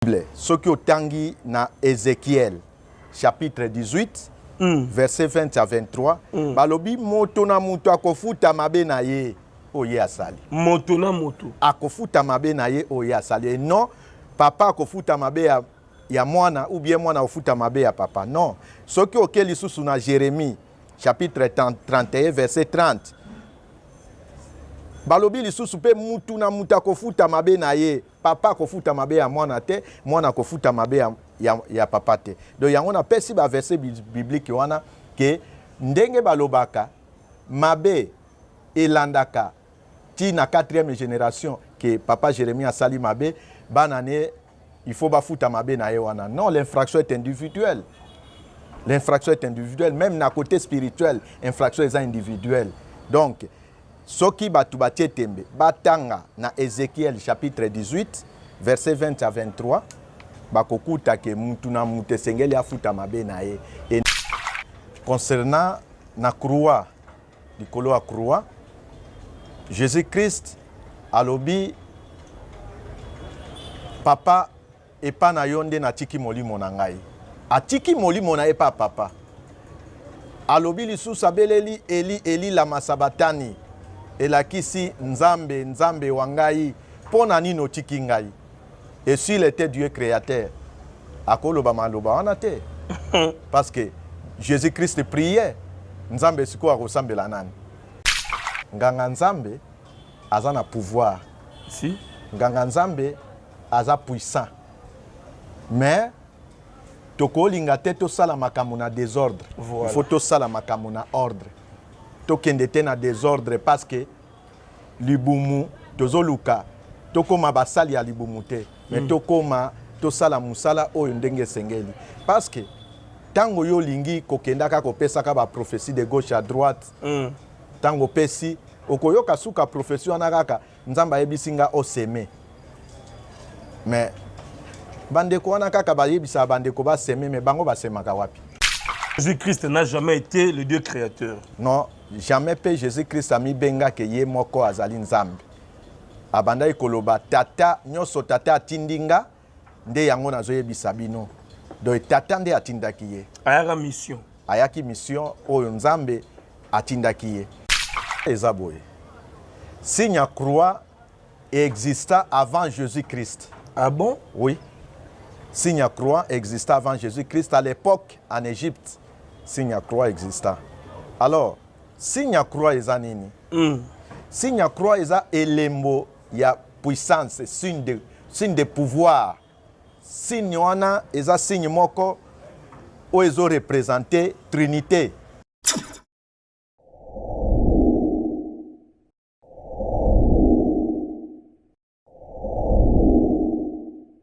Bible soki otangi na Ezekiel chapitre 18 mm. verset 20 à 23 mm. balobi moto na moto akofuta mabe na ye oyo ye asali moto na moto akofuta mabe na ye oyo ye asali e non papa akofuta mabe ya, ya mwana ou bien mwana akofuta mabe ya papa non soki oke lisusu na jérémie chapitre 31 verset 30 balobi lisusu mpe mutu na moto akofuta mabe na ye Papa akofuta mabe ya mwana te, mwana akofuta mabe ya, ya, ya papa te. Donc yango napesi ba verset biblique wana ke ndenge balobaka mabe elandaka ti na quatrième génération ke papa Jérémie asali mabe, bana ne il faut bafuta mabe na ye wana. Non, l'infraction est individuelle. L'infraction est individuelle, même na côté spirituel, infraction est individuelle. Donc Soki bato batie tembe, batanga na Ezekiel chapitre 18 verset 20 à 23, bakokuta ke mutu na mutu esengeli afuta mabe na ye. E, concernant na croix, likolo ya croix, Jesus Christ alobi papa Epa na yo nde natiki molimo na ngai. Atiki molimo na ye epa papa. Alobi lisusu abeleli Eli, Eli lama sabatani. Elakisi Nzambe, Nzambe wa ngai, mpo na nini otiki ngai? Et s'il était Dieu créateur, akoloba maloba wana te. Parce que Jésus-Christ priait, Nzambe sikoyo akosambela nani? Nganga Nzambe aza na pouvoir. Si. Nganga Nzambe aza puissant mais tokolinga te tosala makambo na desordre voilà. il faut tosala makambo na ordre tokende te na desordre parce que libumu tozoluka tokóma basali ya libumu te mais mm. tokóma tosala mosala oyo ndenge esengeli parce que ntango yo olingi kokendaka kopesaka baprophétie de gauche à droite ntango mm. opesi okoyoka suka prophétie wana kaka Nzambe ayebisi nga o seme. Mais bandeko wana kaka bayebisaka bandeko ba seme mais bango basemaka wapi? Jésus-Christ n'a jamais été le Dieu créateur. Non, jamais pe Jésus-Christ amibengaka ye moko azali Nzambe. Abandaki koloba tata nyonso tata atindi nga nde yango nazoyebisa bino donc tata nde atindaki ye ayaka mission ayaki mission oyo nzambe atindaki ye eza boye signe ya croix exista avant jésus christ ah bon oui signe ya croix exista avant jésus christ à l'époque en égypte signe ya croix exista alors signe ya croix eza nini mm. signe ya croix eza elembo ya puissance signe de, signe de pouvoir signe wana eza signe moko oyo ezo represente trinite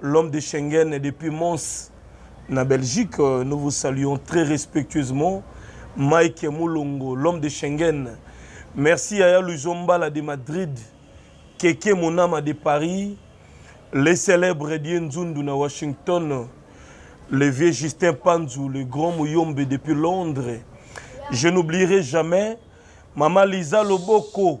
L'homme de Schengen depuis Mons na Belgique, euh, nous vous saluons très respectueusement. Mike Mulongo, l'homme de Schengen. Merci Yaya Luzombala de Madrid, Keke Monama de Paris, les célèbres Dieu Nzundu na Washington, le vieux Justin Panzu, le grand Muyombe depuis Londres. Je n'oublierai jamais Mama Lisa Loboko,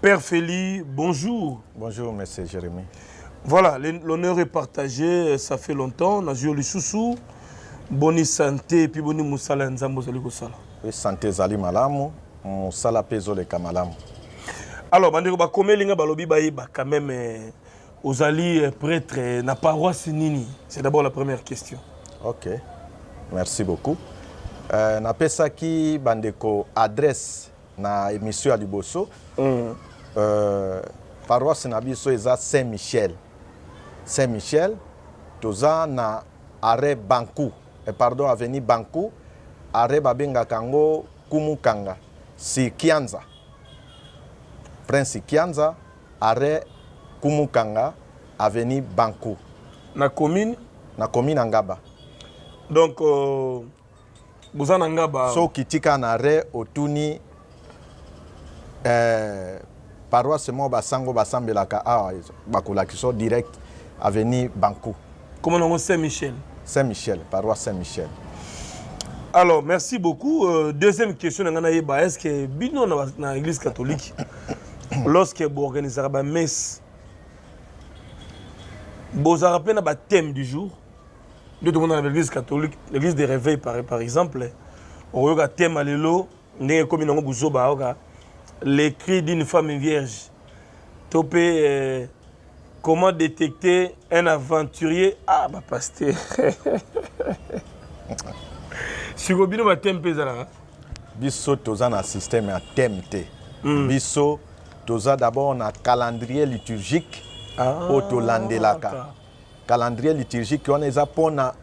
Père Feli, bonjour. Bonjour, monsieur Jérémy. Voilà, l'honneur est partagé, ça fait longtemps. Na Jio Lissousou, bonne santé, puis bonne moussala nzambo zali kosala. Oui, santé zali malamu, moussala pe zoleka malamu. Alors, bandeko ba komeli nga balobi ba yeba quand même euh, ozali euh, prêtre euh, na paroisse nini? C'est d'abord la première question. OK. Merci beaucoup. Euh, napesaki bandeko adresse na emission ya liboso mm. euh, paroisse na biso eza saint michel saint michel toza na arrêt banku eh, pardon avenue banku arrêt babengaka yango kumukanga si kianza prince kianza arrêt kumukanga avenue banku na commune na commune angaba donc euh, boza na nga ba soki tika na re otuni eh, paroisse moko basango basambelaka awa ah, bakolakisa direct avenue banku koma nango saint michel saint michel paroisse saint michel alors merci beaucoup euh, deuxième question na ngai nayeba est ce que bino na, na église catholique lorsque boorganisaka bamesse bozalaka mpe na bathème du jour nde tomona na baeglise catholique l'église de réveil par, par exemple okoyoka tema lelo ndenge ekomi nango buzoba ayoka les cris d'une femme vierge to mpe euh, comment détecter un aventurier ah bapaster siko bino bateme mpe ezalaka biso toza na système ya teme te mm. biso toza d'abord na calendrier liturgique ah, oyo tolandelaka Calendrier liturgique wana eza pona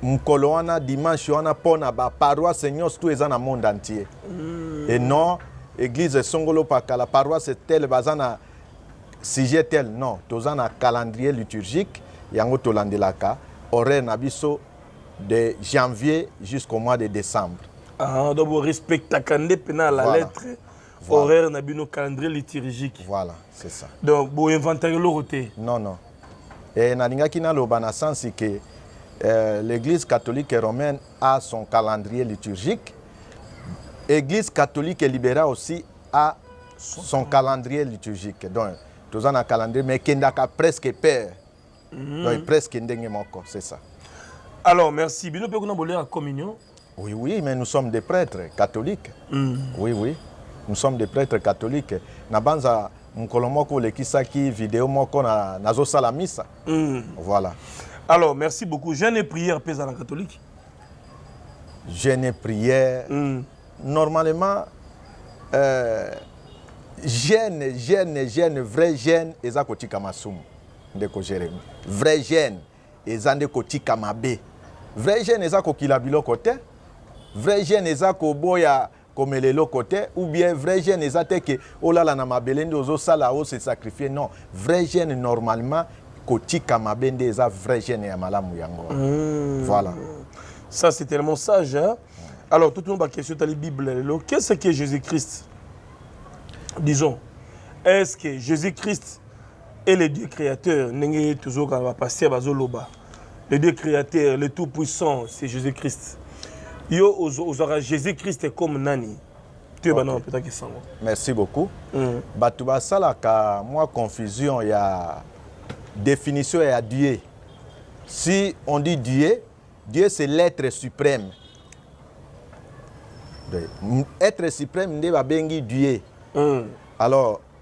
mokolo wana dimanche wana mpo na baparoise nyonso tu eza na monde entier mm. et non église esongolo pakala paroisse tele baza na sujet tel non toza na calendrier liturgique yango tolandelaka horaire na biso de janvier jusqu'au mois de décembre ah, donc borespectaka nde mpena la voilà. lettre Voilà. horaire na bino calendrier liturgique voilà c'est ça donc boinventaka eloko te non non e, nalingaki naloba na sensi ke euh, l'église catholique romaine a son calendrier liturgique église catholique libéra aussi a son, son calendrier liturgique donc toza na calendrier mais ekendaka presque père mm -hmm. donc presque ndenge moko c'est ça alors merci bino mpe kuna bolyaka communion Oui, oui, mais nous sommes des prêtres catholiques. Mm. Oui, oui, nous sommes des prêtres catholiques. Nabanza mokolo moko olekisaki video moko na nazosala misa. Mm. Voilà. Alors, merci beaucoup. Jeune et prière pesa na catholique. Jeune et prière. Mm. Normalement euh, jeune, jeune, jeune, vrai jeune eza kotika masumu ndeko Jérémie. Vrai jeune. eza nde kotika mabe vrai jeune eza kokila biloko te vrai jeune eza koboya komela eloko te ou bien vrai jeune eza te ke olala na mabele nde ozosala ose sacrifie non vrai jeune normalement kotika mabe nde eza vrai jeune ya malamu yango mmh. voilà ça c'est tellement sage hein? alors tout le monde question tali bible lelo qu'est-ce que jésus-christ disons est-ce que jésus-christ et le Dieu créateur ndenge tozoka ba pasteur bazoloba le Dieu créateur le tout puissant c'est Jésus-Christ yo ozwaka Jésus-Christ comme nani toyeba okay. nao mpetaki sango merci beaucoup mm. bato basalaka mwa confusion ya définition ya Dieu si on dit Dieu Dieu c'est l'être suprême être suprême nde babengi Dieu mm. alors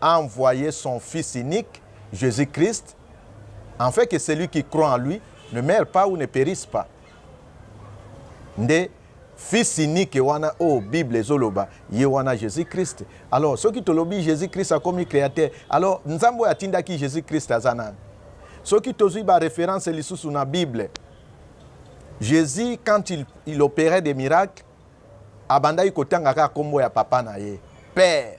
a envoye son fils unique Jesus Christ enfin que celui qui croit en lui ne meure pas ou ne perisse pas nde fils unique wana oyo oh, bible ezoloba ye wana jésus christ alors soki tolobi jésus christ akomi créateur alors nzambe oyo atindaki jésus christ aza nani soki tozwi baréférence lisusu na bible jésus quand il, il opérait des miracles abandaki kotanga kaka nkombo ya papa na ye père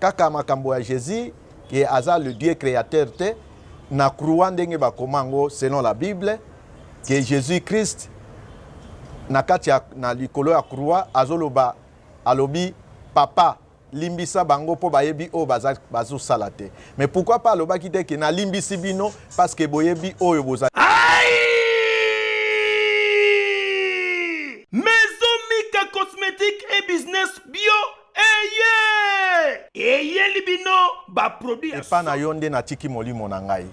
Kaka makambo ya Jesus ke aza le Dieu createur te na croix ndenge bakoma yango selon la Bible ke Jesus Christ na kati ya na likolo ya croix azoloba alobi papa limbisa bango mpo bayebi oyo bazosala te mais pourquoi pas alobaki te ke nalimbisi bino parce que boyebi oyo boza eye eyeli bino baproduit ya epa na yo nde natiki molimo na ngai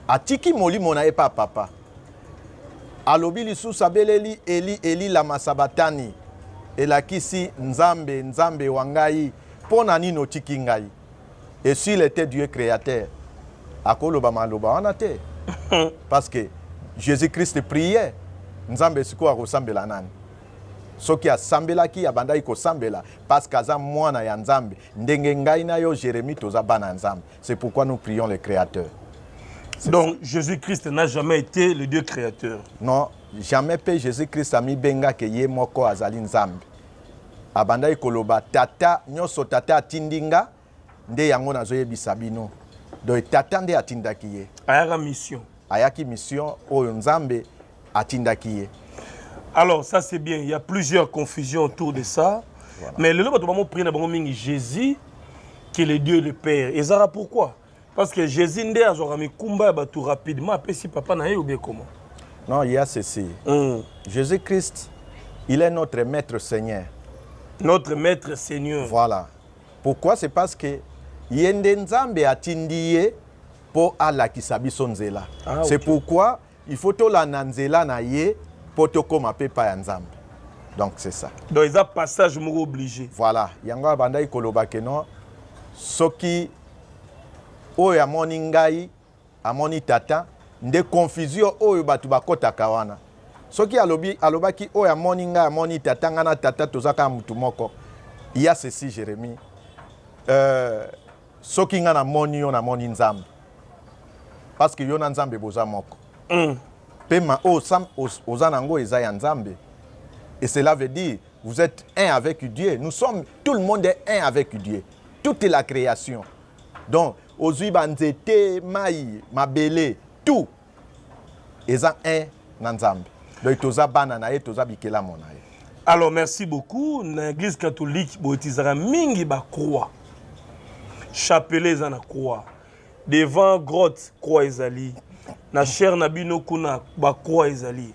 atiki molimo na epa papa alobi lisusu abeleli eli eli lama sabatani elakisi nzambe nzambe wa ngai mpo na nini otiki ngai esil ete dieu créateur akoloba maloba wana te parce que jésus christ priye nzambe sikoyo akosambela nani Soki asambelaki abandaki kosambela parce qu'aza mwana ya Nzambe ndenge ngai na yo Jeremie toza bana ya Nzambe. C'est pourquoi nous prions le créateur. Donc Jésus-Christ n'a jamais été le Dieu créateur. Non, jamais pe Jésus-Christ amibenga ke ye moko azali Nzambe. Abandaki koloba tata nyoso tata atindi nga nde yango nazoyebisa bino donc tata nde atindaki ye ayaka mission ayaki mission oyo nzambe atindaki ye alors ça c'est bien il y a plusieurs confusions autour de ça voilà. mais lelo bato bango prier na bango mingi jésus que le dieu le père ezalaka pourquoi parce que jésus nde azwaka mikumba ya bato rapidement apesi papa na ye obie comment non il y a ceci mm. jésus christ il est notre maître seigneur notre maître seigneur voilà Pourquoi c'est parce que ye nde nzambe atindi ye po alakisa biso nzela ah, okay. c'est pourquoi il faut tolanda nzela na ye po tokoma pe pa ya nzambe donc c'est ça donc eza passage moko obligé voilà yango abandaki koloba ke non soki oyo amoni ngai Amoni tata nde confusion oyo batu bakotaka wana soki alobi alobaki oyo amoni ngai amoni tata ngai na tata toza kaka mutu moko ya ceci jeremi euh, soki ngai namoni yo namoni nzambe parce que yo na nzambe boza moko mm. pema oyo oh, oza nango eza ya nzambe et cela veut dire vous êtes un avec dieu nous sommes tout le monde est un avec dieu toute la création donc ozwi banzete mai mabele tout eza un na nzambe donc toza bana na ye toza bikelamo na ye alors merci beaucoup na église catholique boyetizaka mingi bacroix chapelet eza na croix devant grotte croix ezali na chaire na bino kuna bacroix ezali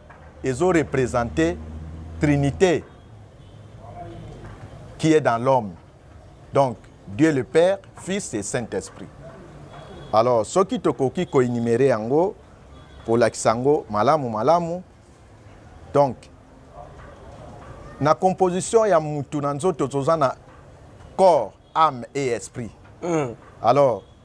ezo representer trinite qui est dans l'homme donc Dieu le Père, Fils et Saint-Esprit. Alors soki tokoki ko énumérer yango kolakisa yango malamu malamu donc na composition ya mutu na nzoto toza na corps âme et esprit mm. alors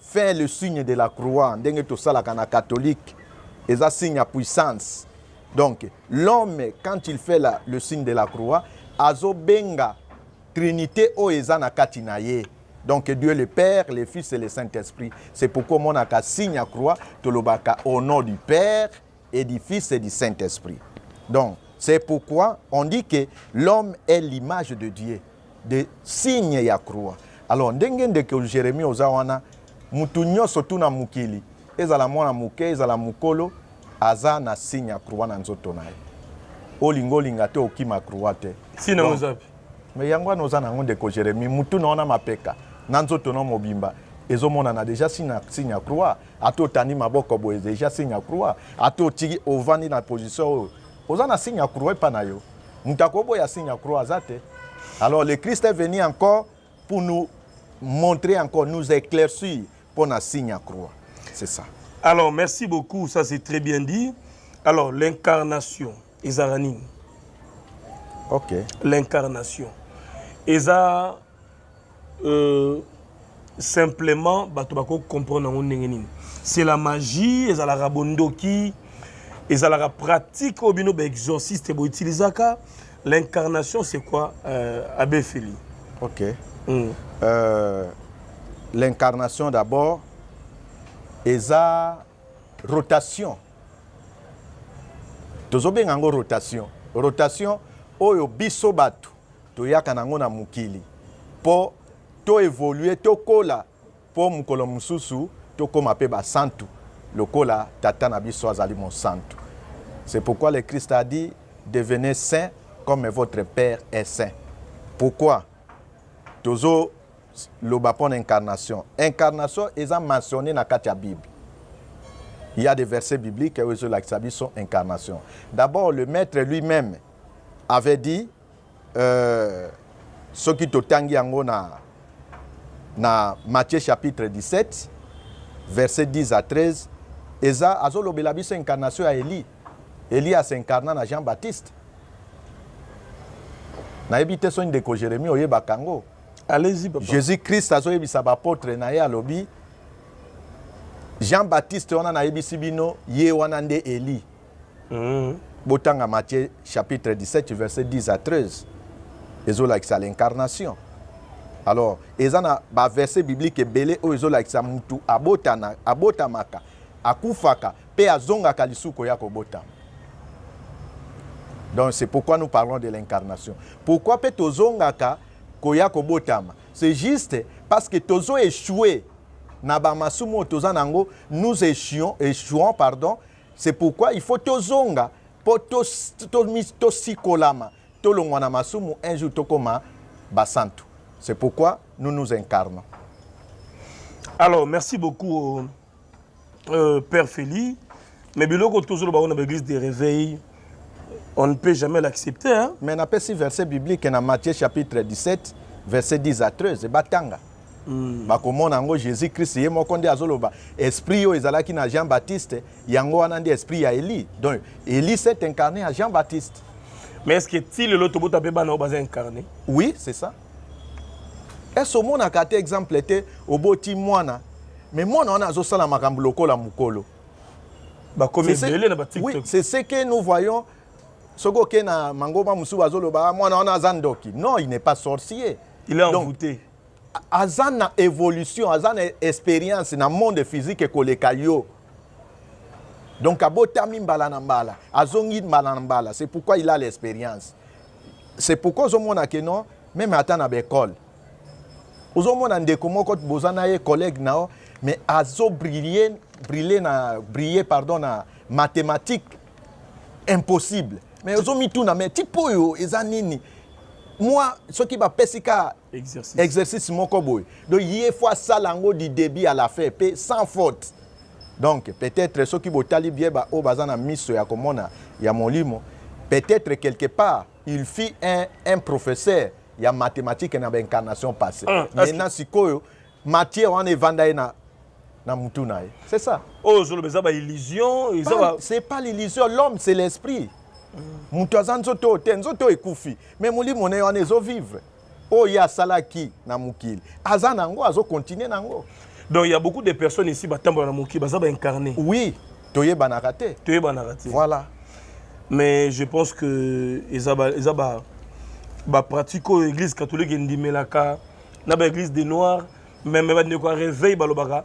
Fais le signe de la croix ndenge tosalaka na catholique eza signe ya puissance donc l'homme quand il fait la, le signe de la croix azobenga trinité oyo eza na kati na ye donc dieu le père le fils et le saint esprit c'est pourquoi omonaka signe ya croix tolobaka au nom du père et du Fils et du Saint-Esprit. Donc, c'est pourquoi on dit que l'homme est l'image de Dieu, de signe ya croix. Alors, ndenge ndeko Jérémie oza wana, mutu nyonso tu na mokili, ezala mwana moke, ezala mokolo, aza na signe ya croix na nzoto na ye. Olinga olinga te okima croix te. Si na ozapi. Mais yango wana oza nango ndeko Jérémie, mutu na wana mapeka, na nzoto na mobimba, ezomonana déjà signe ya croix. ata otandi maboko boye deja signe ya croix ata otiki ovandi na position oyo oza na signe ya croix epa na yo moto akoboya signe ya croix aza te alors le christ est venu encore pour nous montrer encore nous éclaircir mpo na signe ya croix c'est ça alors merci beaucoup ça c'est très bien dit alors l'incarnation ezala nini ok l'incarnation eza Euh, simplement bato bako comprendre yango ndenge nini c'est la magie ezalaka bondoki ezalaka pratique oyo bino baexorciste boutilisaka l'incarnation c'est quoi euh, abe feli ok mm. euh, l'incarnation d'abord eza rotation tozobenga yango rotation rotation oyo biso bato Toyaka na yango na mokili mpo to evoluer, tokola mpo mokolo mosusu tokoma mpe basantu lokola Tata na biso azali mosantu. C'est pourquoi le Christ a dit, devenez saint comme votre Père est saint. Pourquoi tozo loba mpo na incarnation? Incarnation eza mentionné na kati ya Bible. Il y a des versets bibliques oyo ezolakisa biso incarnation. D'abord, le maître lui-même avait dit Euh, soki totangi yango na, na Matthieu chapitre 17 verset 10 à 13 eza azolobela biso incarnation ya Elie. Elie asincarna na Jean-Baptiste. nayebi te soki ndeko Jérémie oyebaka yango. Allez-y papa. Jésus-Christ azoyebisa baapotre na ye alobi Jean-Baptiste wana nayebisi bino ye wana nde Elie. Mm. Botanga Matthieu chapitre 17 verset 10 à 13. Ezolakisa l'incarnation. Alors, eza na ba verset biblique ebele oyo ezolakisa mutu abotana, abotamaka, akufaka pe azongaka lisusu koya kobotama. Donc c'est pourquoi nous parlons de l'incarnation. Pourquoi pe tozongaka koya kobotama? C'est juste parce que tozo échouer na bamasumu oyo toza nango nous échouons, échouons pardon C'est pourquoi il faut tozonga mpo tosikolama, tolongwa na masumu, un jour tokoma basantu. C'est pourquoi nous nous incarnons. Alors, merci beaucoup, euh, euh Père Félix. Mais biloko tozoloba on a l'église des réveils. On ne peut jamais l'accepter. Hein? Mais n'a pas si verset biblique dans Matthieu chapitre 17, verset 10 à 13, batanga. Mm. bakomona yango jésus christ ye moko nde azoloba esprit oyo ezalaki na jean baptiste yango wana nde esprit ya eli donc eli s'est incarné ya jean baptiste mais est ce que ti lelo tobota mpe bana oyo baza incarné oui c'est ça ese omonaka te exemple te oboti mwana mais mwana wana azosala makambo lokola mokolo bakomi ebele na ba tiktok oui, c'est ce que nous voyons soki oke na mangoma mosusu bazoloba ah, mwana wana aza ndoki non il n'est pas sorcier il est envoûté aza na évolution aza na expérience na monde physique ekoleka yo donc abotami mbala na mbala azongi mbala na mbala c'est pourquoi il a l'expérience c'est pourquoi ozomona ke non meme ata na baekole ozomona ndeko moko boza na ye collègue na yo mais azo briller briller na briller pardon na mathématique impossible mais ozomituna mais type oyo eza nini mwa soki bapesi ka exercice, exercice moko boye donc ye fo asala yango du début à la fin mpe sans faute donc peut-être soki botali bie baoyo baza na miso ya komona ya molimo peut-être quelque part il fit un, un professeur ya mathématique na baincarnation passé ah, maintenant sikoyo matière wana evanda ye na na mutu na ye c'est ça oyo oh, ozoloba eza baillusion c'est pas l'illusion l'homme c'est l'esprit moto aza nzoto oyo te nzoto oyo ekufi mais molimo na ye wana ezovivre oyo ye asalaki na mokili aza na yango azokontinue na yango donc ya beaucoup de personnes ici batambola na mokili baza baincarne oui toyebanaka te toyebanaka te voilà mais je pense que eza ba, eza ba, ba pratique oyo église catholique endimelaka na ba église des noirs meme bandeko ya réveil balobaka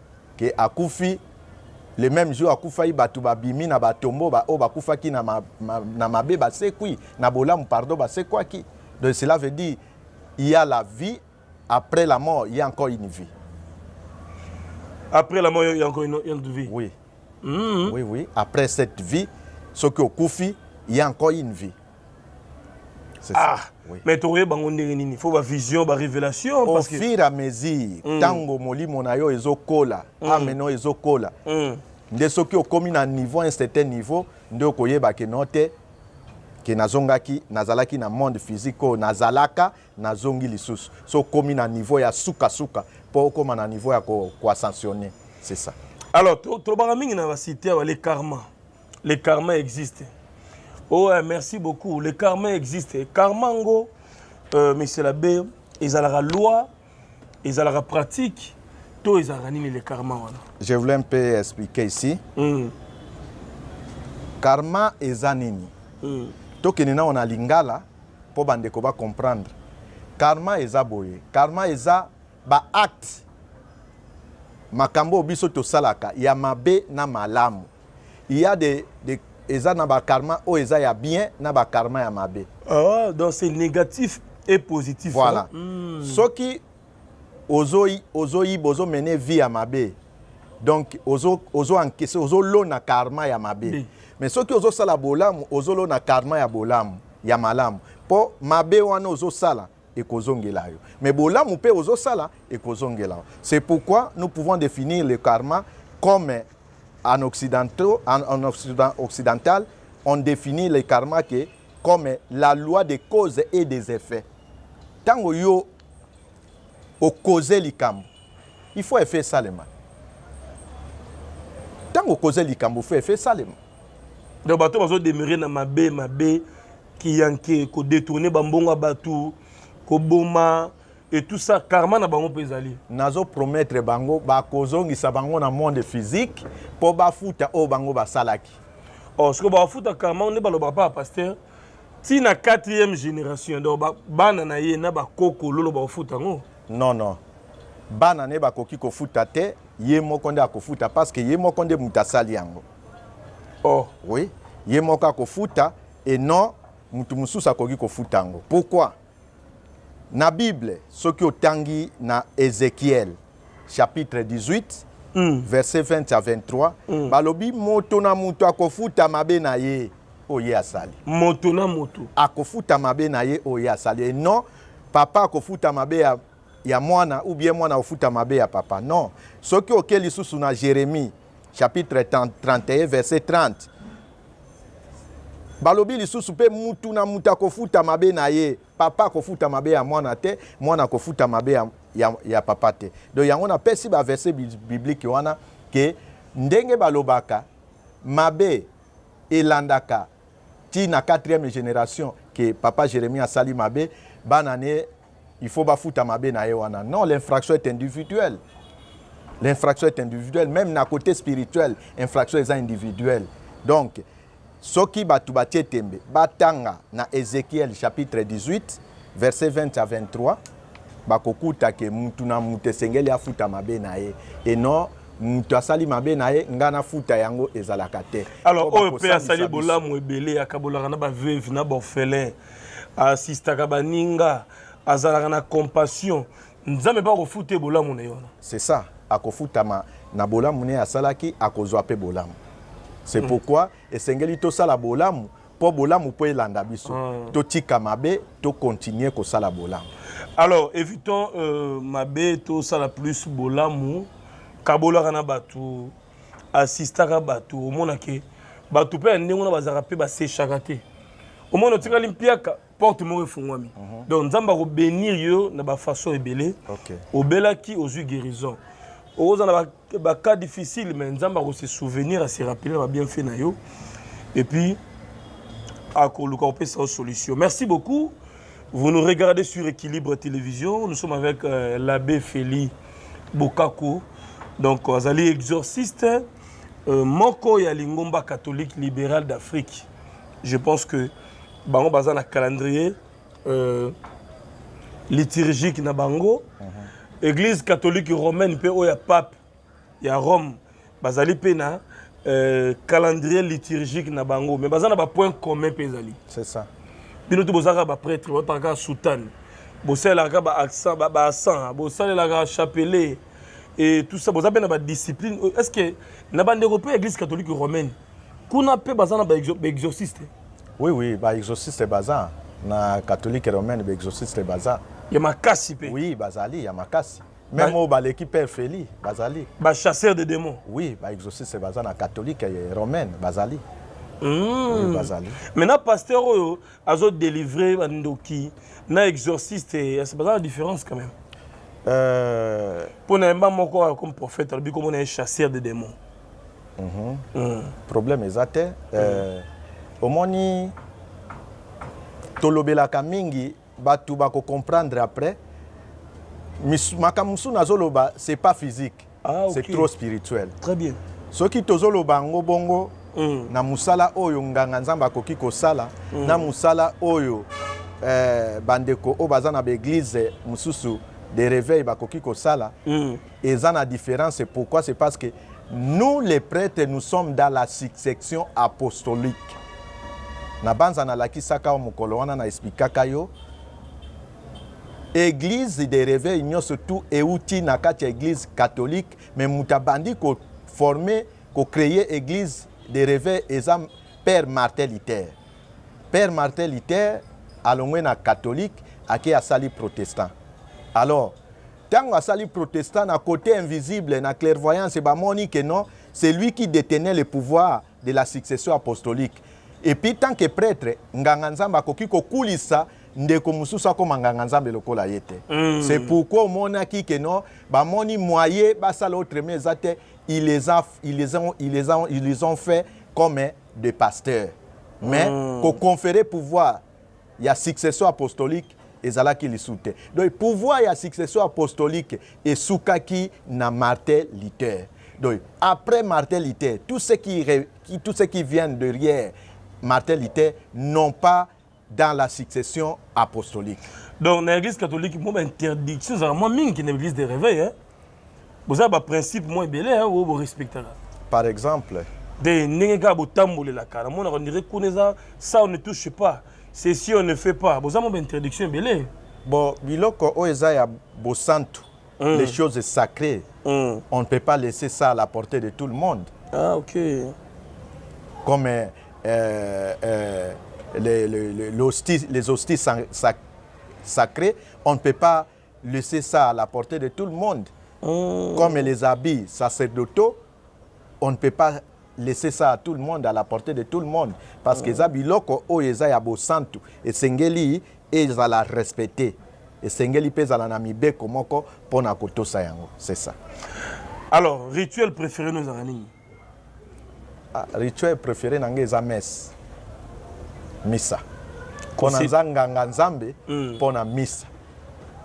que akufi le meme jour akufaki bato babimi na batombo baoyo bakufaki na, ma, ma, na mabe basekwi na bolamu pardon basekwaki donc cela veut dire il y a la vie après la mort il y a encore une vie après la mort il y a encore une, une vie oui mm -hmm. oui oui après cette vie soki okufi il y a encore une vie ah oui. mais tokoyeba yango ndenge nini fo bavision barévélation au que... fur à mesure ntango mm. molimo na yo ezokola mm. ame no ezokola mm. nde soki okomi na niveau un certain niveau nde okoyeba ke no te ke nazongaki nazalaki na monde physique oyo nazalaka nazongi lisusu so okomi na niveau ya sukasuka mpo okoma na niveau ya koascensionne c'est ça alors tolobaka mingi na basite ya bale karma le karma existe oh eh, merci beaucoup le karma existe karma ngo euh, monsieur l'abbé ezalaka loi ezalaka pratique to ezalaka nini le karma wana je voulais un peu expliquer ici mm. karma eza nini mm. tokende nao na lingala mpo bandeko bacomprendre karma eza boye karma eza baacte makambo oyo biso tosalaka ya mabe na malamu il y a des, des eza na ba karma oyo eza ya bien na ba karma ya mabe ah, donc c'est négatif et positif voilà hein? mm. soki ozoyi ozoyiba ozomene vie ya mabe donc ozo ozo encaisse ozolona karma ya mabe oui. mais soki ozosala bolamu ozolona karma ya bolamu ya malamu mpo mabe wana ozosala ekozongela yo mais bolamu mpe ozosala ekozongela yo c'est pourquoi nous pouvons définir le karma comme en occidentaux en, en occident, occidental on définit le karma que comme la loi des causes et des effets ntango yo okoze likambo il faut effet esalema ntango okoze likambo faut effet esalema donc bato bazo demeurer na mabe mabe kiyanke ko détourner bambongo ya bato koboma et tout ça karma na bango mpe ezali nazo promettre bango bakozongisa bango na monde physique mpo bafuta oyo bango basalaki or oh, sikoyo bafuta karma nde balobaka mpa pasteur ti na quatrième génération donc bana na ye na bakoko lolo bakofuta yango non non bana na ye bakoki kofuta te ye moko nde akofuta parce que ye moko nde moto asali yango oh oui ye moko akofuta et non mutu mosusu akoki kofuta yango pourquoi na bible soki otangi na ezekiel chapitre 18 mm. verset 20 à 23 mm. balobi moto na moto akofuta mabe na ye oyo ye asali moto na moto akofuta mabe na ye oyo ye asali et non papa akofuta mabe ya, ya mwana ou bien mwana akofuta mabe ya papa non soki oke lisusu na jeremie chapitre 31 verset 30 balobi lisusu mpe mutu na moto akofuta mabe na ye papa akofuta mabe ya mwana te mwana akofuta mabe ya, ya, ya papa te donc yango napesi baverse biblike wana ke ndenge balobaka mabe elandaka ti na 4e génération ke papa jérémie asali mabe bana ne il faut bafuta mabe na ye wana non l'infraction est individuelle l'infraction est individuelle même na côté spirituel infraction eza individuelle donc soki bato batie tembe batanga na ezekiel chapitre 18 verset 20 à 23 bakokuta ke mutu na mutu esengeli afuta mabe na ye et non moto asali mabe na ye ngai nafuta yango ezalaka te alors oyo mpe asali bolamu ebele akabolaka na baveuve na baorphelin asistaka baninga azalaka na compassion nzambe mpe akofuta ye bolamu na ye wana c'est ça akofutama na bolamu ne asalaki akozwa mpe bolamu c'est mm. pourquoi esengeli tosala bolamu mpo bolamu mpo elanda biso mm. totika mabe tokontinue kosala bolamu alors évitons euh, mabe tosala plus bolamu kabolaka na bato assistaka bato omona ke bato mpe ya ndenge wana bazalaka mpe basechaka te omona otikali mpiaka porte moko efungwami mhm. donc nzambe akobenir yo na bafaçon ebele obelaki ozwi guérison oza na bacas difficile mais nzambe akose souvenir ase rappeler na babienfait na yo epuis akoluka kopesa yo solution merci beaucoup Vous nous regardez sur Equilibre Télévision. Nous sommes avec euh, l'abbé Feli Bokako. Donc, euh, azali exorciste euh, moko ya lingomba catholique libéral d'Afrique. Je pense que bango baza na calendrier euh, liturgique na bango. Uh mhm. -huh. Église catholique romaine mpe oyo ya pape ya Rome bazali mpe na euh, calendrier liturgique na bango mais baza na bapoint commun mpe ezali c'est ça bino to bozalaka baprêtre botaka kaka soutane bosalelaka baaccent baaccent bosalelaka chapelet e tout ça boza mpe na badiscipline est ce que na bandeko mpe ya église catholique romaine kuna mpe baza na baexorciste oui oui baexorciste baza na catholique romaine baexorciste baza ya makasi mpe oui bazali ya makasi Même au baleki père Feli bazali. Ba chasseurs de démons. Oui, ba exorcistes baza na catholique et romaine bazali. Mmh. Oui, bazali. Maintenant pasteur oyo azo délivrer ba ndoki na exorciste eh, c'est pas la différence quand même. Euh pour na mba moko comme prophète, lobi comme on est chasseur de démons. Mmh. Mmh. Problème exact euh mmh. omoni tolobelaka mingi Batu ba ko comprendre après. Makambo mosusu nazoloba c'est pas physique. Ah, okay. C'est trop spirituel. Très bien. Soki tozoloba yango bongo mm. na musala oyo nganga Nzambe akoki kosala mm. na musala oyo eh, bandeko oyo baza na baeglize mosusu de réveil bakoki kosala mm. Eza na difference pourquoi c'est parce que nous les pretres nous sommes dans la succession apostolique. Nabanza nalakisaka yo mokolo wana na explikaka yo eglise de reveil nyonso tout euti na kati ya eglise catholique mais moto abandi ko former ko créer eglise de reveil eza père Martin Luther. Père Martin Luther alongwe na catholique ake asali protestant alors Tango asali protestant na cote invisible na clairvoyance ba moni que non, c'est lui qui detenait le pouvoir de la succession apostolique. Et puis tant que prêtre, nganga nzambe akoki kokulisa ndeko mosusu akoma nganga nzambe lokola ye te mm. c'est pourquoi omonaki ke non bamoni moye basala autrement eza te ils les, a, ils, les ont, ils, les ont, ils les ont fait comme des pasteurs mais mm. koconfere pouvoir ya succession apostolique ezalaki lisu te donc pouvoir ya succession apostolique esukaki na martin luther donc après martin luther tout ce qui, qui, tout ce qui vient derrière martin luther non pas dans la succession apostolique donc na église catholique mwa bainterdiction ezalaka mwa mingi na église de réveil hein? boza ba principe mwa ebele eh, oyo borespectaka par exemple de ndenge kaka botambolelaka namonaka ndire kuna eza ça on ne touche pas ceci on ne fait pas boza mwa baintroduction ebele bon biloko oyo eza ya bosantu mm. les choses sacrées mm. on ne peut pas laisser ça à la portée de tout le monde ah ok comme euh, euh, euh les, les, les, hosties, les hosties sacrées on ne peut pas Laissez ça à la portee de tout le monde. Mmh. Comme les habits sacerdotaux, on ne peut pas laisser ça à tout le monde, à la portée de tout le monde. Parce que eza biloko oyo eza ya bosantu esengeli ezala respecte esengeli mpe ezala na mibeko moko mpo na kotosa yango c'est ça alors rituel préféré no ezalaka nini Ah, rituel préféré na ngai eza messe misa mpo Kosi- naza nganga nzambe Mm. mpo na misa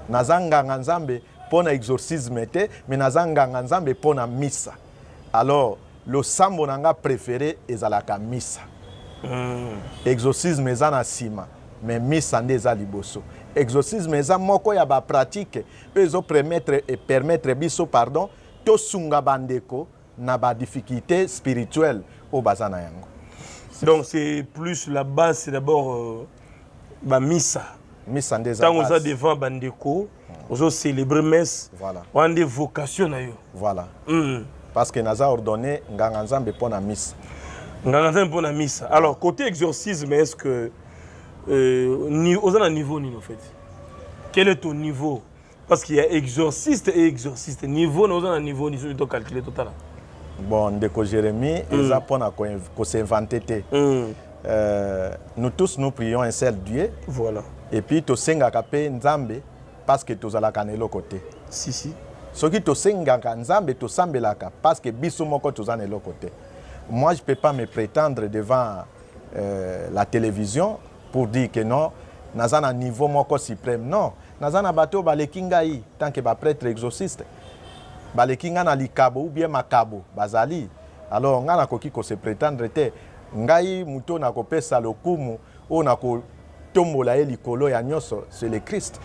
naza nganga nzambe mpo na exorcisme te mais naza nganga nzambe mpo na misa alors losambo na ngai préféré ezalaka misa Mm. exorcisme eza na nsima mais misa nde eza liboso exorcisme eza moko ya bapratique oyo ezopermettre epermettre biso pardon tosunga bandeko na ba difficultés spirituelles oyo baza na yango donc c'est plus la base c'est d'abord euh, ba misa misa nde eza ntango oza devant bandeko hmm. ozo célébrer messe voilà. wana nde vocation na yo voilà mm. parce que naza ordonné nganga nzambe mpo na misa nganga nzambe mpo na misa alors côté exorcisme est ce que euh, oza na niveau nini en fait quel est ton niveau parce qu'il y a exorciste et exorciste niveau na oza na niveau ni soki to calculer totala bon ndeko Jérémie mm. eza pona ko, ko s'inventer te mm. euh, nous tous nous prions un seul Dieu voilà et puis tosengaka pe Nzambe parce que tozalaka na eloko te si si soki tosengaka Nzambe tosambelaka parce que biso moko toza na eloko te moi je peux pas me prétendre devant euh, la télévision pour dire que non naza na niveau moko supreme non naza na bato oyo baleki ngai tant que bapretre exauciste baleki ngai na likabo ou bien makabo bazali alors ngai nakoki kose pretendre te ngai moto oyo nakopesa lokumu oyo nakotombola ye likolo ya nyonso c'est le christ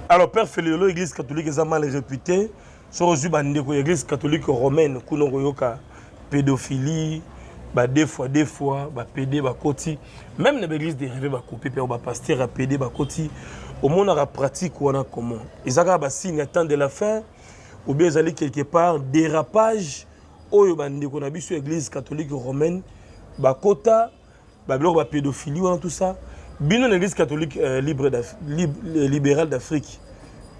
alors père feliolo église catholique eza mal réputé soki ozwi bandeko ya eglise catholique romaine kuna okoyoka pédophilie ba deux fois deux fois ba pede bakoti même na baeglise de reve bakopi mpe bapaster ya pede bakoti omonaka pratique wana comment eza kaka basigne ya temps de la fin ou bien ezali quelque part dérapage oyo bandeko na biso ya église catholique romaine bakota ba biloko ba pédophilie wana tout ça bino na église catholique euh, libre lib, euh, libérale d'Afrique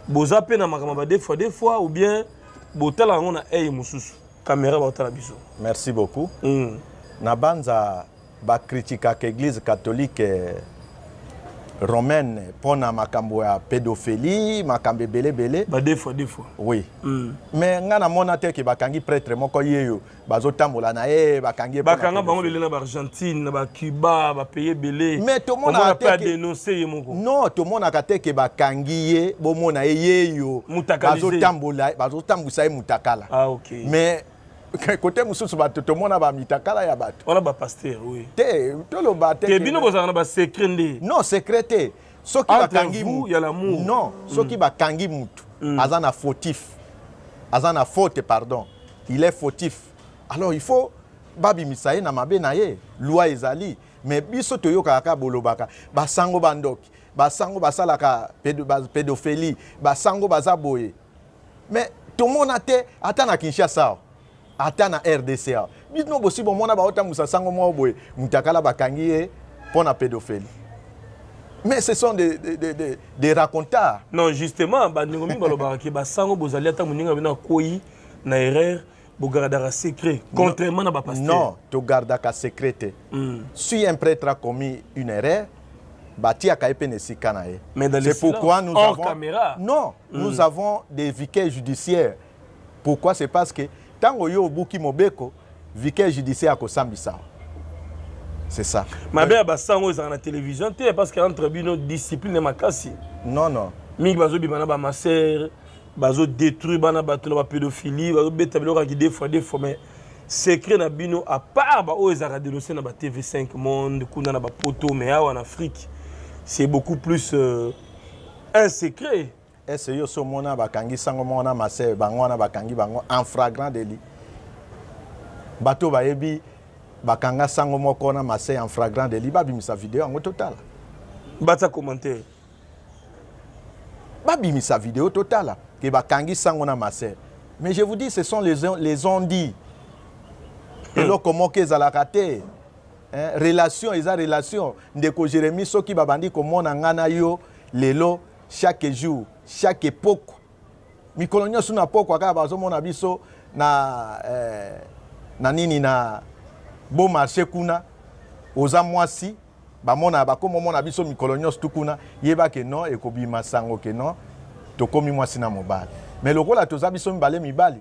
boza pe na makambo ba deux fois deux fois ou bien botala yango na eye mosusu kamera baotala biso merci beaucoup mm. na banza bakritikaka église catholique euh, romaine mpo na makambo ya pédophilie makambo ebelebele oui mm. mais ngai namona te ke bakangi prêtre moko yeyo bazotambola na ye bakangi ye bakanga bango lelo na baargentine na bacuba bapaye ebele mais tomonaka te adenonse ye moko non tomonaka te ke bakangi ye bomona ye yeyo bazotambola bazotambwisa ye mutakala ah, okay. mais kote mosusu bato tomona bamitakala ya bato wana bapaster oui. te toloba te bino bozalaka na basecret nde non secret te soki bakangi non soki mm. bakangi mutu mm. aza na fautif aza na faute pardon il est fautif alors il faut babimisa ye na mabe na ye loi ezali mais biso toyokaka kaka bolobaka basango bandoki basango basalaka pedophilie basango baza boye mais tomona te ata na kinshasa ata na rdc awa bino bosi bomona baotambusa sango moko boye mutakala bakangi ye mpo na pédophilie mais ce sont des, des, des, des, des racontards non justement bandeko mingi balobaka ke basango bozali ata moninga bino akwei na erreur bogardaka secret contrairement na bapasteur non togardaka secret te mm. si un prêtre a commis une erreur batiaka ye mpe na esika na ye c'est pourquoi nous avons, caméra. non mm. nous avons des viquets judiciaires Pourquoi c'est parce que tango yo obuki mobeko vicaire judiciaire akosambisa c'est ça mabe ya basango ezalaka na télévision te parce que entre bino discipline makasi non non mingi bazobima na bamasere bazodétruire bana bato na bapédophilie bazobeta biloko ya kidefo ya defo mais secret na bino à part baoyo ezalaka denonce na ba tv5 monde kuna na bapoto mais awa na afrique c'est beaucoup plus euh, un secret Est ce que yo so mona ba kangi sango moko na masse bango wana ba kangi bango en flagrant délit bato ba yebi ba kanga sango moko na masse en flagrant délit ba bimisa vidéo yango totala bata commentaire ba bimisa vidéo totala que ba kangi sango na masse mais je vous dis ce sont les les ont dit hmm. eloko moko ezalaka te relation eza relation ndeko jérémie soki babandi komona ngai na yo lelo chaque jour chaque epoko mikolo nyonso na pokwa kaka bazomona biso na eh, na nini na beau marché kuna oza mwasi bamona bakoma omona biso mikolo nyonso tu kuna yeba ke non ekobima sango ke non tokomi mwasi na mobali me lokola toza biso mibale mibali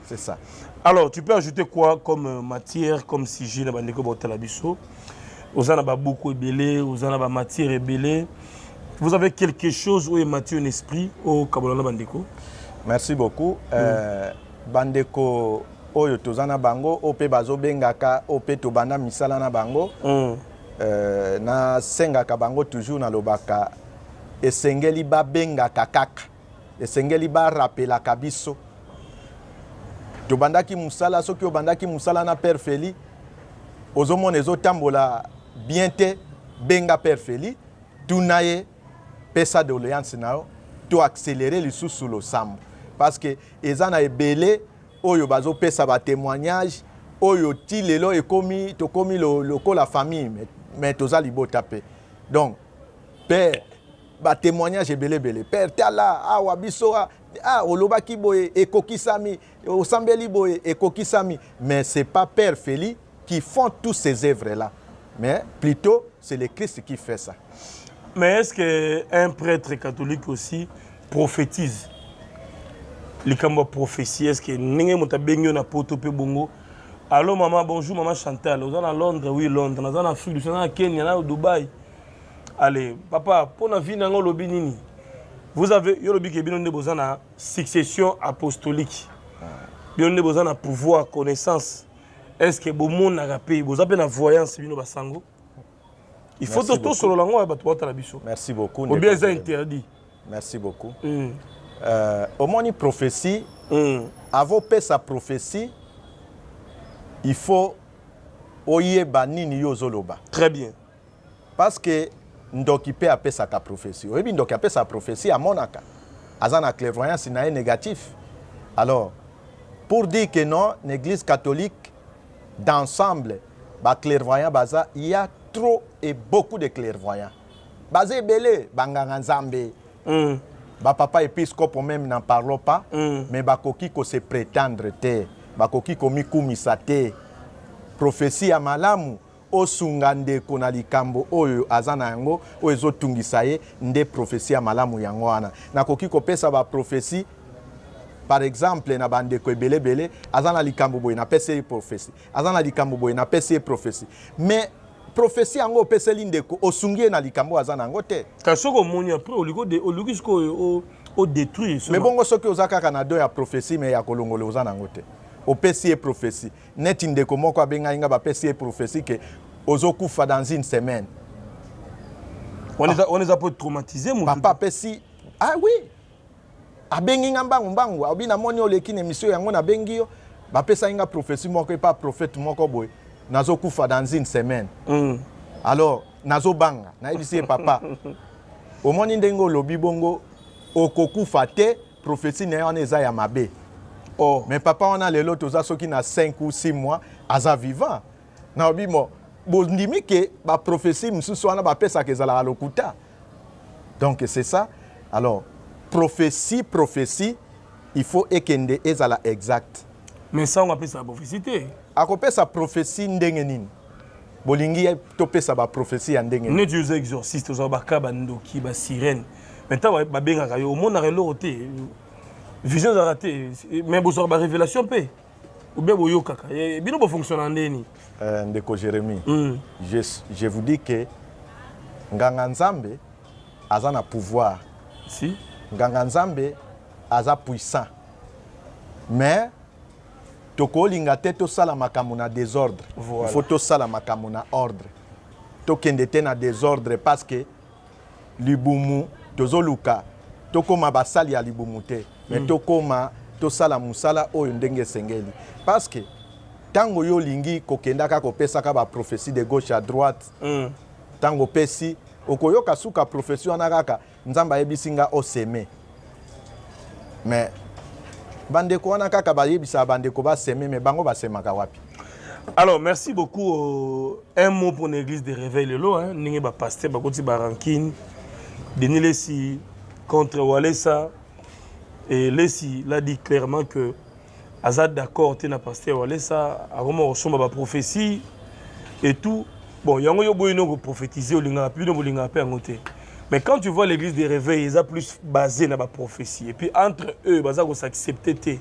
C'est ça. Alors, tu peux ajouter quoi comme euh, matière, comme sujet na bandeko botala biso Oza na babuku ebele, oza na ba matière ebele. Vous avez quelque chose ou matière en esprit au Kabola na bandeko Merci beaucoup. Mm. Euh, bandeko oyo toza na bango oyo mpe bazobengaka oyo mpe tobanda misala na bango mm. euh, nasengaka bango toujours nalobaka esengeli babengaka kaka esengeli ba rappelaka biso tobandaki mosala soki obandaki mosala na père feli ozomona ezotambola bien te benga père feli tuna ye pesa doleance na yo to accéléré lisusu losambo parce que eza na ebele oyo bazopesa batémoignage oyo ti lelo ekomi tokomi lokola famille mais toza libota mpe donc père ba témoignage ebele ebele père tala awa biso ah, ah olobaki boye ekokisami osambeli boye ekokisami mais c'est pas père Feli qui font tous ces œuvres là mais plutôt c'est le Christ qui fait ça mais est-ce que un prêtre catholique aussi prophétise likambo ya prophétie est-ce que ndenge moto abengi yo na poto mpe bongo allo mama bonjour mama chantal oza na londres oui londres naza na afrique du sud naza na kenya na dubai Allez, papa, pour la vie nango lobi nini? Vous avez yo lobi ke bino nde boza na succession apostolique. Bino nde boza na pouvoir, connaissance. Est-ce que bomonaka pe boza pe na voyance bino basango? Il faut to solo lango ya bato bota la biso. Merci beaucoup. Obia eza interdit. Merci beaucoup. Mm. Euh, omoni prophétie mm. avant pesa prophétie il faut oyeba nini yo ozoloba. Très bien. Parce que ndoki pe apesaka prophetie. Oyebi ndoki apesaka prophetie amonaka. Aza na clairvoyance na ye négatif. Alors pour dire que non, l'église catholique d'ensemble ba clairvoyants baza, il y a trop et beaucoup de clairvoyants. Baza ebele banganga Nzambe. Mm. Ba papa episcopo même n'en parlons pas, mm. mais bakoki ko se prétendre te. Bakoki komikumisa te. Prophetie ya malamu Osunga ndeko na likambo oyo aza na yango, oyo ezotungisa ye, nde prophetie ya malamu. Yango wana nakoki kopesa ba prophetie par exemple na bandeko ebele ebele, aza na likambo boye, napesi ye prophetie, aza na likambo boye, napesi ye prophetie mais prophetie yango opeseli ndeko osungi ye na likambo aza na yango te. Kasi soki omoni apres oluki sikoyo o detruire. Mais bongo soki oza kaka na don ya prophetie mais ya kolongola oza na yango te, opesi ye prophetie neti ndeko moko abengaki nga bapesi ye prophetie ke ozokufa dans une semaine on les a, on les a peut traumatiser mon papa apesi ah oui abengi nga mbangu mbangu abi namoni oleki na emission yango nabengi yo bapesaki nga prophetie moko epa prophète moko boye nazokufa dans une semaine mm. alors nazobanga nayebisi ye papa omoni ndenge olobi bongo okokufa te prophetie na ye wana eza ya mabe oh. mais papa wana lelo toza soki na 5 ou 6 mois aza vivant na obimo bondimi ke baprophetie mosusu wana bapesaka ezalaka lokuta donc c'est ça alors prophetie prophetie il faut ekende ezala exact mais sango apesaka prophetie te akopesa prophetie ndenge nini bolingi topesa ba prophetie ya ndenge neti oza exorciste oza baka bandoki ba sirene mais ntango babengaka yo omonaka eloko te vision ezalaka te mais bozwaka ba révélation mpe obe boyokaka eh, bino bofonctionnaka ndenge nini eh, ndeko jérémie mm. je, je vous dis que nganga nzambe aza na pouvoir si nganga nzambe aza puissant mais tokolinga te tosala makambo na desordre voilà. faut tosala makambo na ordre tokende te na desordre parce que libumu tozoluka tokoma basali ya libumu te mais mm. tokoma tosala mosala oyo ndenge esengeli parce que ntango yo olingi kokendaka kopesaka baprofesi de gauche à droite ntango mm. opesi okoyoka suka profesi wana kaka Nzambe ayebisi nga o seme. Mais bandeko wana kaka bayebisaka bandeko ba seme mais bango basemaka wapi? Alors merci beaucoup euh, un mot pour l'église de réveil lelo hein ndenge ba pasteur bakoti ba rancune Denis Lessi contre Walesa et Lessi l'a dit clairement que aza d'accord te na pasteur walesa akoma kosomba baprophétie et tout bon yango yo boyino koprophétise olingaka mpe bino bolingaka mpe yango te mais quand tu vois l'église de réveil eza plus basé na baprophétie et puis entre eux baza kosaccepte te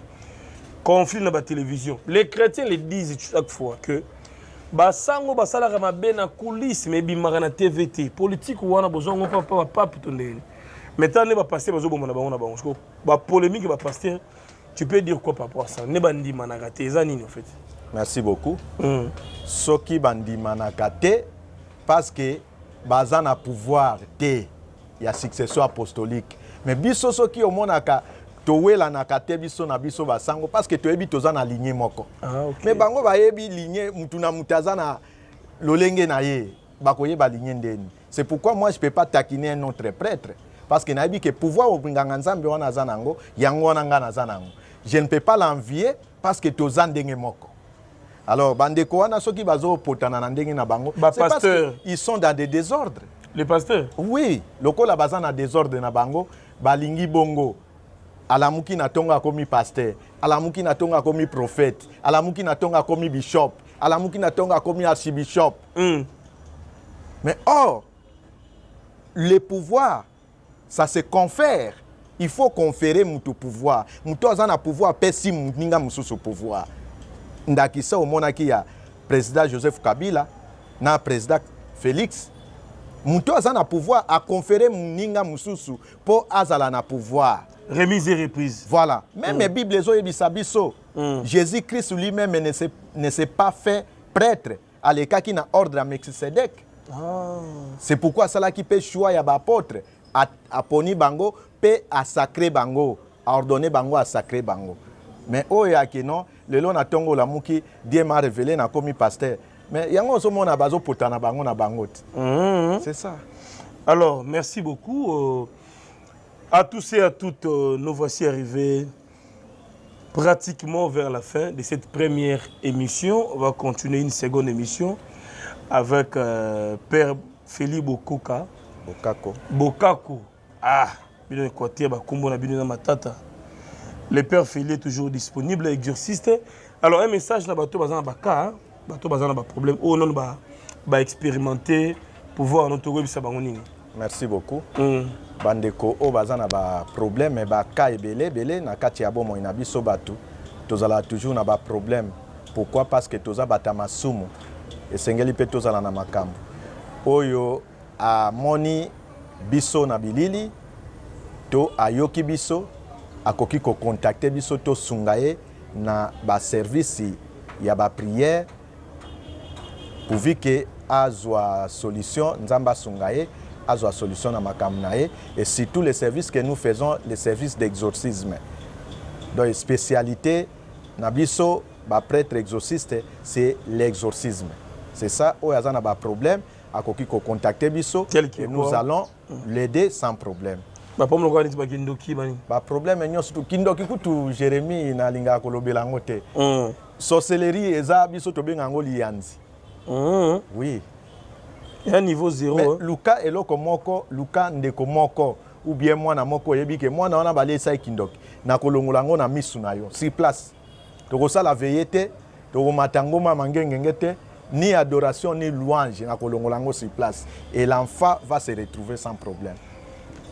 conflit na batélévision les chrétiens le disent chaque fois que basango basalaka mabe na coulisse mais ebimaka na tv te politike wana bozwa yango mpa bapape to ndenge maintenant nde bapaster bazoboma na bango na bango bapolémike bapaster Tu peux dire quoi par rapport à ça Ne bandimanaka te eza nini en fait Merci beaucoup. Mm. Soki bandimanaka te parce que baza na pouvoir te ya succession apostolique. Mais biso soki omonaka towelanaka te biso na biso basango parce que toyebi toza na ligne moko. Ah, okay. Mais bango bayebi ligne mutu na mutu aza na lolenge na ye bakoyeba ligne ndeni. C'est pourquoi moi je peux pas taquiner un autre prêtre parce que nayebi que pouvoir nganga nzambe wana aza nango yango wana nga naza nango. Je ne peux pas l'envier parce que toza ndenge moko. Alors bandeko wana soki bazo potana na ndenge na bango, c'est parce qu'ils sont dans des désordres. Les pasteurs Oui, lokola baza na désordre na bango, balingi bongo alamuki na tongo akomi pasteur alamuki na tongo akomi prophète alamuki na tongo akomi bishop alamuki na tongo akomi archibishop mm. mais or le pouvoir ça se confère il faut conférer moto pouvoir moto aza na pouvoir apesi moninga mosusu pouvoir ndakisa omonaki ya président joseph kabila na président félix moto aza na pouvoir aconfere moninga mosusu mpo azala na pouvoir remise et reprise voilà meme mm. bible ezoyebisa biso mm. jésus christ lui-même ne s'est ne s'est pas fait prêtre alekaki na ordre ya melchisedek ah. c'est pourquoi asalaki mpe choix ya baapôtre aponi bango mpe asacre bango aordonne bango asacre bango mais oyo ya kino lelo na ntongo olamuki die ma revele nakomi pasteur mais yango ozomona bazopotana bango na bango te mm -hmm. c'est ça alors merci beaucoup euh, à tous et à toutes euh, nous voici arrivés Pratiquement vers la fin de cette première émission, on va continuer une seconde émission avec euh, Père Feli Bokoka. Bokako. Bokako. Ah, bino Equateur, bakumbo na bino na matata. Le Père Feli est toujours disponible, exorciste. Alors, un message na bateau, bazana baka, hein? bato baza na baproblème oyo nano baexpérimente pouvoir no tokoyebisa bango nini merci beaucoup mm. bandeko oyo baza na baproblème baka ebele ebele na kati ya bomoi na biso bato tozalaka toujours na baproblème pourquoi parce que toza bato ya masumu esengeli mpe tozala na makambo oyo Amoni biso na bilili to ayoki biso, akoki ko contacter biso tosunga ye na ba services ya ba prières pourvu que azwa solution, Nzambe asunga ye azwa solution na makambo na ye et surtout les services que nous faisons les services d'exorcisme. Donc specialite na biso ba pretres exorcistes c'est l'exorcisme. C'est ça oyo aza na ba problèmes akoki ko contacter biso et nous allons l'aider sans problème bapomi lokola neti bakindoki bani baproblème nyonso tu kindoki kutu jérémie nalingaka kolobela yango te mm. sorcellerie eza biso tobenga yango liyanzi mm. oui ya niveau zero luka eloko moko luka ndeko moko ou bien mwana moko oyebi ke mwana wana balesa ye kindoki nakolongola yango na misu na yo sur place tokosala veye te tokomata ngoma mangengenge te ni adoration ni louange na kolongola yango sur place et l'enfant va se retrouver sans problème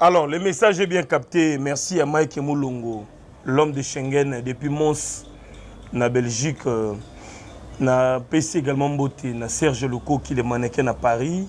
alors le message est bien capté merci à mike mulongo l'homme de schengen depuis mons na belgique euh, na pesi également mbote na serge lokoki le mannequin na paris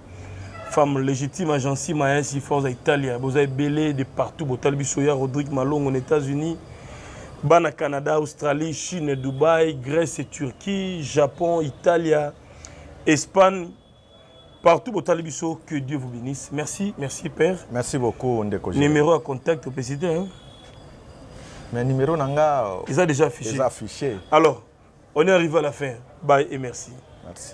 femme légitime agence maesi forza italia boza ebele de partout botali biso ya rodrigue malongo na états-unis bana canada australie chine dubai grèce et turquie japon italia espagne partout botali biso que dieu vous bénisse merci merci père merci beaucoup ndeko numéro ya contact opesi te hein? mais numéro na nga eza déjà affiché eza affiché alors on est arrivé à la fin bye et merci merci